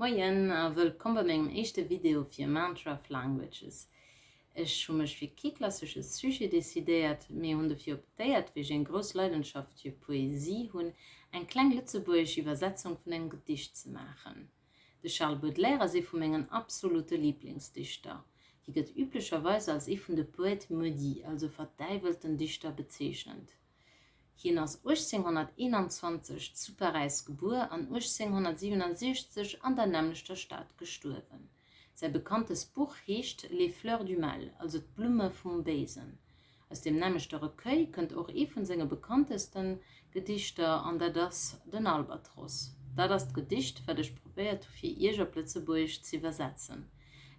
Moien a wëllkomm bei mengem éischte Video fir Mantraf Languages. Ech hu mech fir kee klassesche Sujet decidéiert, mee hunn dofir optéiert, wéi ech eng grouss Leidenschaft fir Poesie hunn, eng kleng lëtzebuergesch Iwwersetzung vun engem Gedicht ze maachen. De Charles Baudelaire ass ee vu mengen absolute Liblingsdichter. Hie gëtt üblecherweis als ee vun de Poètes maudits, also verdäiwelten Dichter, bezeechent. Hien ass 1821 zu Paräis gebuer an 1867 an der nämmlechter Stad gestuerwen. Säi bekanntest Buch heescht Les fleurs du mal, also D'Blumme vum Béisen. Aus deem nämmlechte Recueil kënnt och ee vun senge bekannteste Gedichter an dat ass Den Albatros. Dat ass d'Gedicht, wat ech probéiert hu fir Iech op Lëtzebuergesch z'iwwersetzen.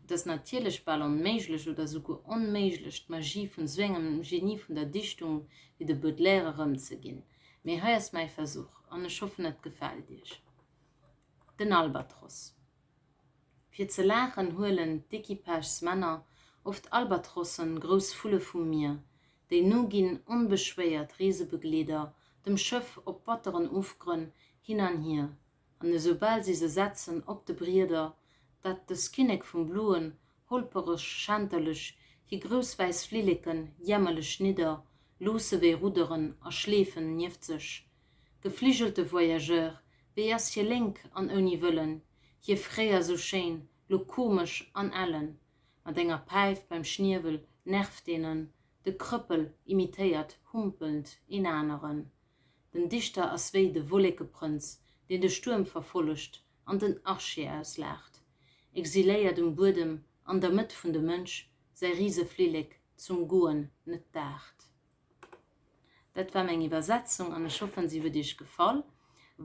Et ass natierlech bal onméiglech oder souguer onméiglech d'Magie vun sou engem Genie vun der Dichtung wéi de Baudelaire erëmzeginn. Mee hei ass mäi Versuch, an ech hoffen et gefält iech. Den Albatross. Fir ze laachen huelen d'Equipagesmänner oft Albatrossen, grouss Vulle vum Mier. Déi nu ginn onbeschwéiert Reesebegleeder dem Schëff op batteren Ofgrënn hin an hier, an esoubal si se setzen op de Brieder, dat dës Kinnek vum Bluen, holpereg, schänterlech, hi grouss wäiss Flilleken, jämmerlech nidder, loosse wéi Rudderen a schleefen nieft sech. Gefligelte Voyageur, wéi ass hie lénk an ouni Wëllen, hie fréier sou schéin, lo komesch an ellen. Mat enger Päif beim Schniewel nervt een en, de Krëppel imitéiert humpelnd een aneren. Den Dichter ass wéi de Wollékeprënz, deen de Stuerm verfollegt an den Archie auslaacht, exiléiert um Buedem an der Mëtt vun de Mënsch, säi Riseflillek zum Goen net daacht. Dat war meng Iwwersetzung an ech hoffen, si huet iech gefall.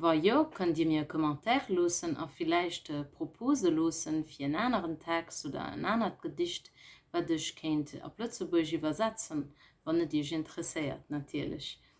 Wa jo, kënnt dir mir e Commentaire loossen a villäicht Propose loosse fir en aneren Text oder en anert Gedicht, wat ech kéint op Lëtzebuergesch iwwersetzen, wann et iech interesséiert natierlech.